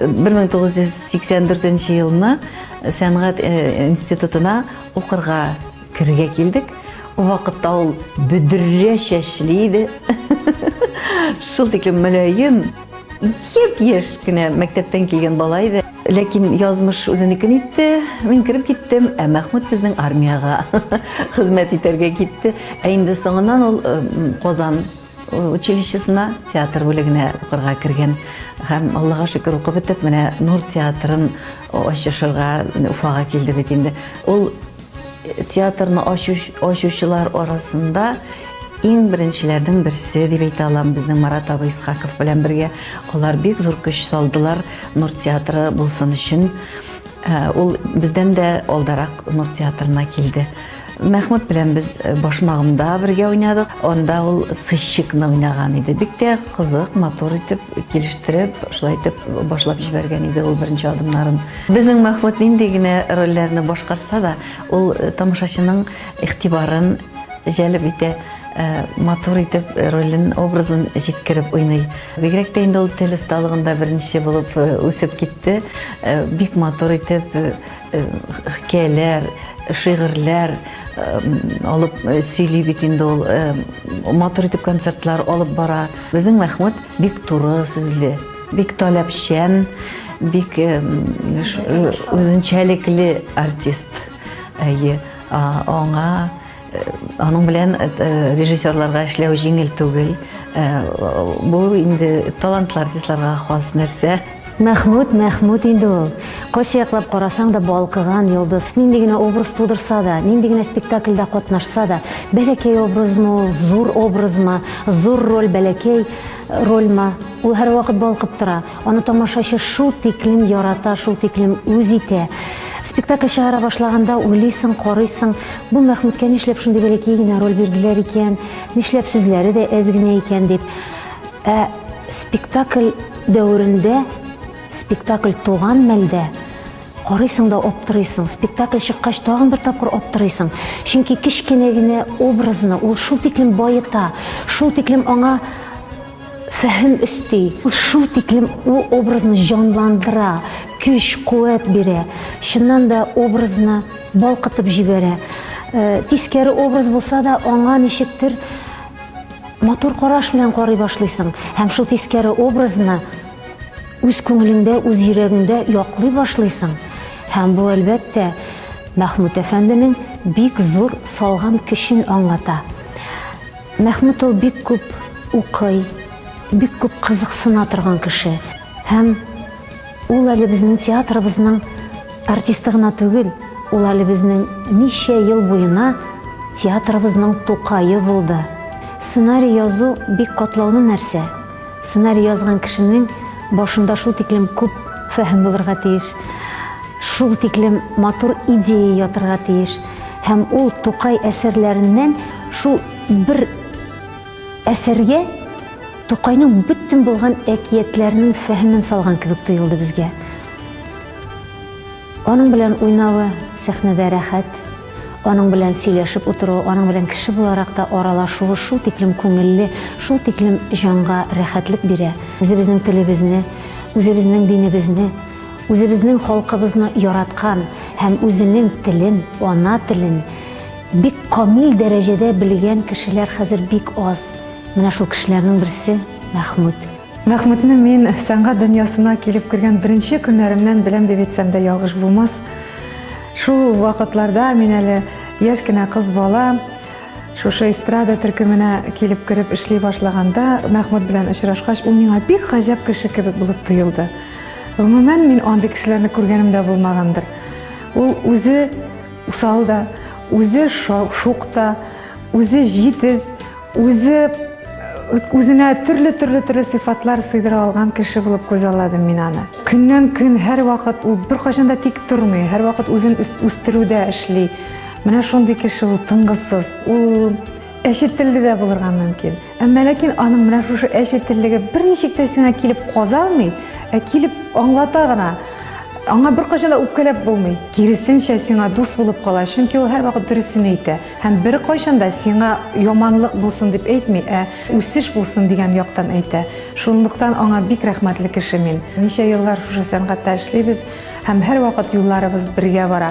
1984 елны сәнгать институтына укырга керергә килдек. Ул вакытта ул бөдрә чәчле иде. Шул тиклем мөлаем, еп яшь кенә мәктәптән килгән бала иде. Ләкин язмыш үзенекен итте, мин кереп киттем, ә Мәхмүт безнең армиягә хезмәт итәргә китте. Ә инде соңыннан ул Казан училищесына, театр бүлегенә укырга кергән. Һәм, Аллага шөкер, укып бетеп, менә Нур театрын ачышырга Уфага килде бит инде. Ул э, театрны ачучылар арасында иң беренчеләрнең берсе дип әйтә алам безнең Марат абый Исхаков белән бергә. Алар бик зур көч салдылар Нур театры булсын өчен. Э, ул бездән дә алдарак Нур театрына килде. Мәхмүт белән без э, башмагымда бергә уйнадык. Анда ул сыщикны уйнаган иде. Бик тә кызык, матур итеп килештереп, шулай итеп башлап җибәргән иде ул беренче адымнарын. Безнең Мәхмүт нинди генә рольләрне башкарса да, ул э, тамашачының игътибарын җәлеп итә э, матур итеп ролен, образын җиткереп уйный. Бигрәк тә инде ул тел осталыгында беренче булып үсеп китте. Бик матур итеп хикәяләр, шигырьләр алып сөйли бит инде ул. Матур итеп концертлар алып бара. Безнең Мәхмүт бик туры сүзле, бик таләпчән, бик үзенчәлекле артист. Әйе, аңа Аның белән режиссерларга эшләү җиңел түгел. Бу инде талантлы артистларга хас нәрсә. Мәхмүт, Мәхмүт инде ул. Кайсы яклап карасаң да балкыган йолдыз. Нинди генә образ тудырса да, нинди генә спектакльдә катнашса да, бәләкәй образмы ул, зур образмы, зур роль, бәләкәй рольмы, ул һәрвакыт балкып тора. Аны тамашачы шул тиклем ярата, шул тиклем үз итә. Спектакль чыгара башлаганда уйлыйсың, карыйсың, бу Мәхмүткә нишләп шундый бәләкәй генә роль бирделәр икән, нишләп сүзләре дә әз генә икән дип. Ә спектакль дәверендә, спектакль туган мәлдә карыйсың да аптырыйсың. Спектакль чыккач тагын бер тапкыр аптырыйсың. Чөнки кечкенә генә образны ул шул тиклем баета, шул тиклем аңа фәһем өсти. Ул шул тиклем ул образны җанландыра, көч, куәт бирә. Чыннан да образны балкытып җибәрә. Э, тискәре образ булса да, аңа ничектер матур караш белән карый башлыйсың. Һәм шул тискәре образны үз күңелеңдә, үз йөрәгеңдә яклый башлыйсың. Һәм бу, әлбәттә, Мәхмүт әфәнденең бик зур салган көчен аңлата. Мәхмүт ул бик күп укый, бик күп кызыксына торган кеше. Һәм ул әле безнең театрыбызның артисты гына түгел, ул әле безнең ничә ел буена театрыбызның Тукае булды. Сценарий язу бик катлаулы нәрсә. Сценарий язган кешенең башында шул тиклем күп фәһем булырга тиеш, шул тиклем матур идея ятырга тиеш. Һәм ул Тукай әсәрләреннән шул бер әсәргә Тукайның бөтен булган әкиятләренең фәһемен салган кебек тоелды безгә. Аның белән уйнавы сәхнәдә рәхәт, аның белән сөйләшеп утыру, аның белән кеше буларак та аралашуы шул тиклем күңелле, шул тиклем җанга рәхәтлек бирә. Үзебезнең телебезне, үзебезнең динебезне Үзебезнең халкыбызны яраткан һәм үзенең телен, ана телен бик камил дәрәҗәдә белгән кешеләр хәзер бик аз. Менә шул кешеләрнең берсе, Мәхмүт. Мәхмүтне мин сәнгать дөньясына килеп кергән беренче көннәремнән беләм дип әйтсәм дә ялгыш булмас. Шул вакытларда мин әле яшь кенә кыз бала, шушы эстрада төркеменә килеп кереп эшли башлаганда, Мәхмүт белән очрашкач, ул миңа бик гаҗәп кеше кебек булып тоелды. Гомумән, мин андый кешеләрне күргәнем дә булмагандыр. Ул үзе усал да, үзе шук та, үзе җитез, үзе үзенә төрле төрле төрле сыйфатлар сыйдыра алган кеше булып күз алладым мин аны. Көннән көн һәр вакыт ул беркайчан да тик тормый, һәр вакыт үзен үстерүдә эшли. Менә шундый кеше ул тынгысыз. Ул әче телле дә булырга мөмкин. Әмма ләкин аның менә шушы әче теллеге берничек тә сиңа килеп каза алмый, ә килеп аңлата гына. Аңа беркайчан да үпкәләп булмый. Киресенчә сиңа дус булып кала, чөнки ул һәрвакыт дөресен әйтә һәм беркайчан да сиңа яманлык булсын дип әйтми, ә үсеш булсын дигән яктан әйтә. Шунлыктан аңа бик рәхмәтле кеше мин. Ничә еллар шушы сәнгатьтә эшлибез һәм һәрвакыт юлларыбыз бергә бара.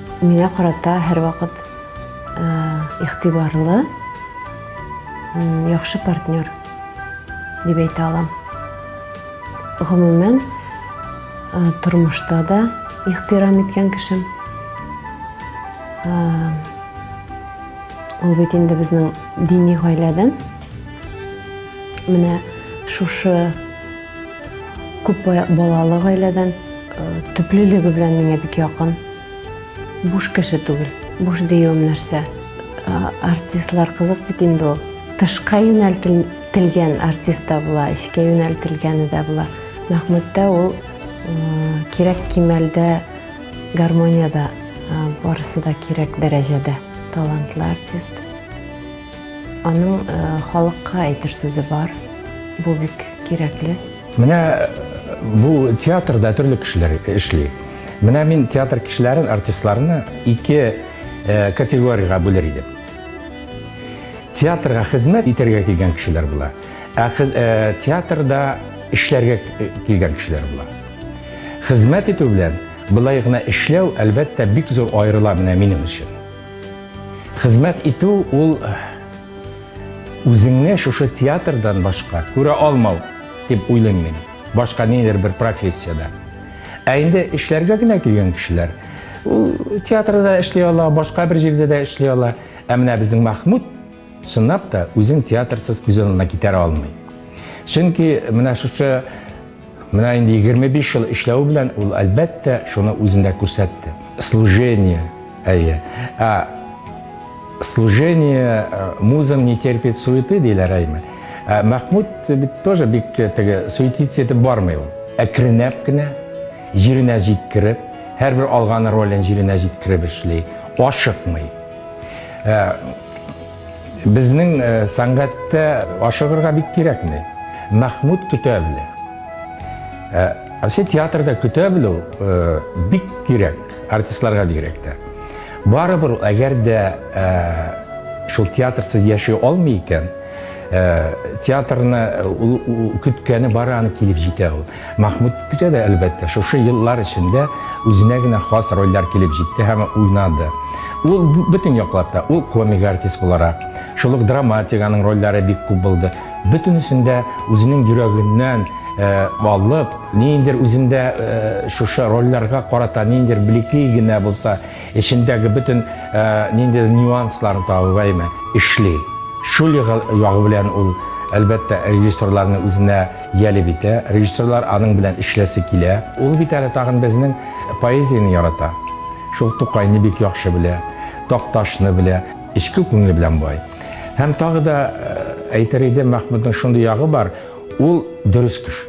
Миңа карата һәрвакыт игътибарлы, яхшы партнер дип әйтә алам. Гомумән, тормышта да ихтирам иткән кешем. Ул бит инде безнең дини гаиләдән. Менә шушы Күп балалы гаиләдән, төплелеге белән миңа бик якын. Буш кеше түгел. Буш диюем нәрсә? Артистлар кызык бит инде ул. Тышка юнәлтелгән артист та була, эчкә юнәлтелгәне дә була. Мәхмүттә ул кирәк кимәлдә гармониядә барысы да кирәк дәрәҗәдә талантлы артист. Аның халыкка әйтер сүзе бар. Бу бик кирәкле. Менә бу театрда төрле кешеләр эшли. Менә мин театр кешеләрен, артистларны ике категориягә бүлер идем. Театрга хезмәт итәргә килгән кешеләр була, ә театрда эшләргә килгән кешеләр була. Хезмәт итү белән былай гына эшләү, әлбәттә, бик зур аерыла менә минем өчен. Хезмәт итү ул үзеңне шушы театрдан башка күрә алмау дип уйлыйм мин. Башка нидер бер профессиядә. Ә инде эшләргә генә килгән кешеләр ул театрда эшли ала, башка бер җирдә дә эшли ала. Ә менә безнең Махмуд Чынлап та, үзен театрсыз күз алдына китерә алмый. Чөнки менә шушы менә инде 25 ел эшләү белән ул әлбәттә шуны үзендә күрсәтте. Служение, әйе. Ә служение э, музам не терпит суеты диләр әйме. Ә Мәхмүд бит тоже бик теге суетиться итеп бармый ул. Әкренләп кенә җиренә җиткереп, һәрбер алган ролен җиренә җиткереп эшли, ашыкмый. Ә, Безнең сәнгатьтә ашыгырга бик кирәкми. Мәхмүт көтә белә. Вообще театрда көтә белү бик кирәк, артистларга бигрәк тә. Барыбер ул әгәр дә шул театрсыз яши алмый икән, театрны ул көткәне бары аны килеп җитә ул. Махмут Питә дә, әлбәттә, шушы еллар эчендә үзенә генә хас рольләр килеп җитте һәм уйнады. Ул, бөтен яклап та, ул комик артист буларак, шул ук драматик, аның рольләре бик күп булды. Бөтенесен дә үзенең йөрәгеннән алып, ниндидер үзендә шушы рольләргә карата ниндидер блекли генә булса, Эчендәге бөтен ниндидер нюансларын табып әйме, эшли. Шул ягы белән ул, әлбәттә, режиссерларны үзенә җәлеп итә, режиссерлар аның белән эшләсе килә. Ул бит әле тагын безнең поэзияне ярата, шул Тукайны бик яхшы белә, Такташны белә, эчке күңеле белән бай. Һәм тагы да әйтер идем, Мәхмүтнең шундый ягы бар, Ул дөрес кеше.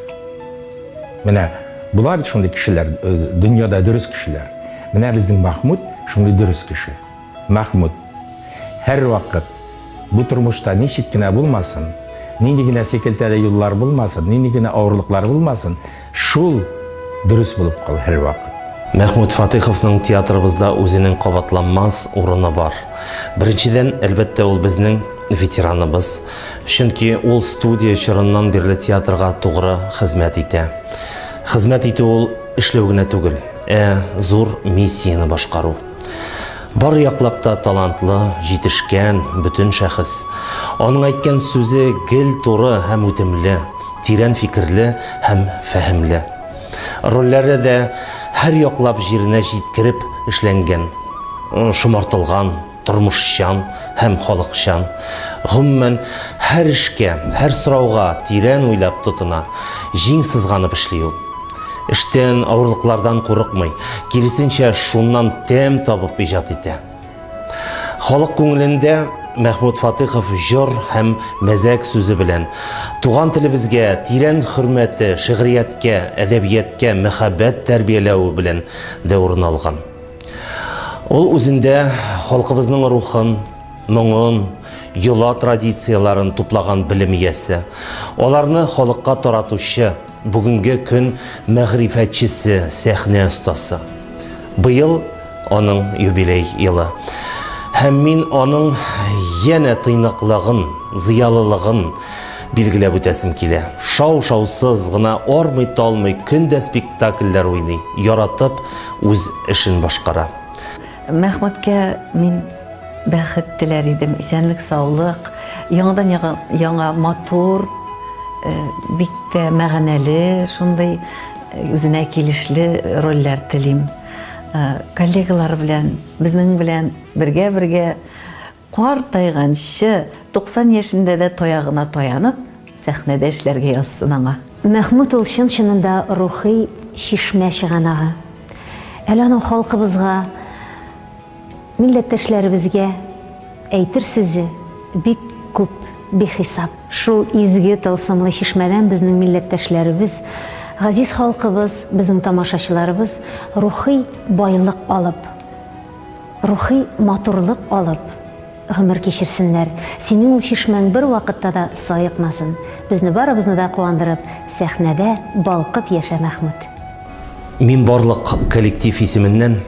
Менә була бит шундый кешеләр, э, дөньяда дөрес кешеләр. Менә безнең Махмуд шундый дөрес кеше. Махмуд һәрвакыт бу тормышта ничек кенә булмасын, нинди генә секелтәле юллар булмасын, нинди генә авырлыклар булмасын, Шул дөрес булып кала һәрвакыт. Мәхмүт Фатыйховның театрыбызда үзенең кабатланмас урыны бар. Беренчедән, әлбәттә, ул безнең ветераныбыз, чөнки ул студия чорыннан бирле театрга тугры хезмәт итә. Хезмәт итү ул эшләү генә түгел, ә зур миссияне башкару. Бар яклап та талантлы, җитешкән, бөтен шәхес. Аның әйткән сүзе гел туры һәм үтемле, тирән фикерле һәм фәһемле. Рольләре дә һәр яклап җиренә җиткереп эшләнгән, шомартылган, тормышчан һәм халыкчан. Гомумән, һәр эшкә, һәр сорауга тирән уйлап тотына, җиң сызганып эшли ул. Эштән, авырлыклардан курыкмый, киресенчә, шуннан тәм табып иҗат итә. Халык күңелендә Мәхмүт Фатыйхов җор һәм мәзәк сүзе белән туган телебезгә тирән хөрмәте, шигърияткә, әдәбияткә мәхәббәт тәрбияләве белән дә урын алган. Ул үзендә халкыбызның рухын, моңын, йола традицияләрен туплаган белем иясе, аларны халыкка таратучы, Бүгенге көн мәгърифәтчесе, сәхнә остасы. Быел аның юбилей елы. Һәм мин аның янә тыйнаклыгын, зыялылыгын билгеләп үтәсем килә. Шау-шаусыз гына армый-талмый көн дә спектакльләр уйный, яратып үз эшен башкара. Мәхмүткә мин бәхет теләр идем, исәнлек-саулык, яңадан яңа матур, бик тә мәгънәле, шундый үзенә килешле рольләр телим. Коллегалары белән, безнең белән бергә-бергә. Картайганчы, 90 яшендә дә таягына таянып, сәхнәдә эшләргә язсын аңа. Мәхмүт ул чын-чынында рухи чишмә чыганагы. Әле аның халкыбызга, милләттәшләребезгә әйтер сүзе бик күп, бихисап. Шул изге, тылсымлы чишмәдән безнең милләттәшләребез, газиз халкыбыз, безнең тамашачыларыбыз рухи байлык алып. Рухи матурлык алып гомер кичерсеннәр, синең ул чишмәң бервакытта да саекмасын, безне барыбызны да куандырып, сәхнәдә балкып яшә Мәхмүт. Мин барлык коллектив исеменнән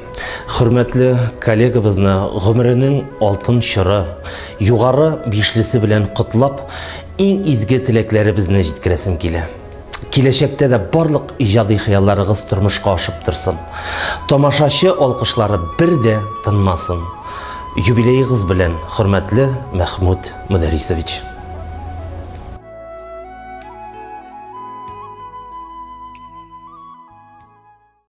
хөрмәтле коллегабызны гомеренең алтын чоры, югары бишлесе белән котлап, иң изге теләкләребезне җиткерәсем килә. Киләчәктә дә барлык иҗади хыялларыгыз тормышка ашып торсын. Тамашачы алкышлары бер дә тынмасын. Юбилеегыз белән, хөрмәтле Мәхмүт Мөдәрисович.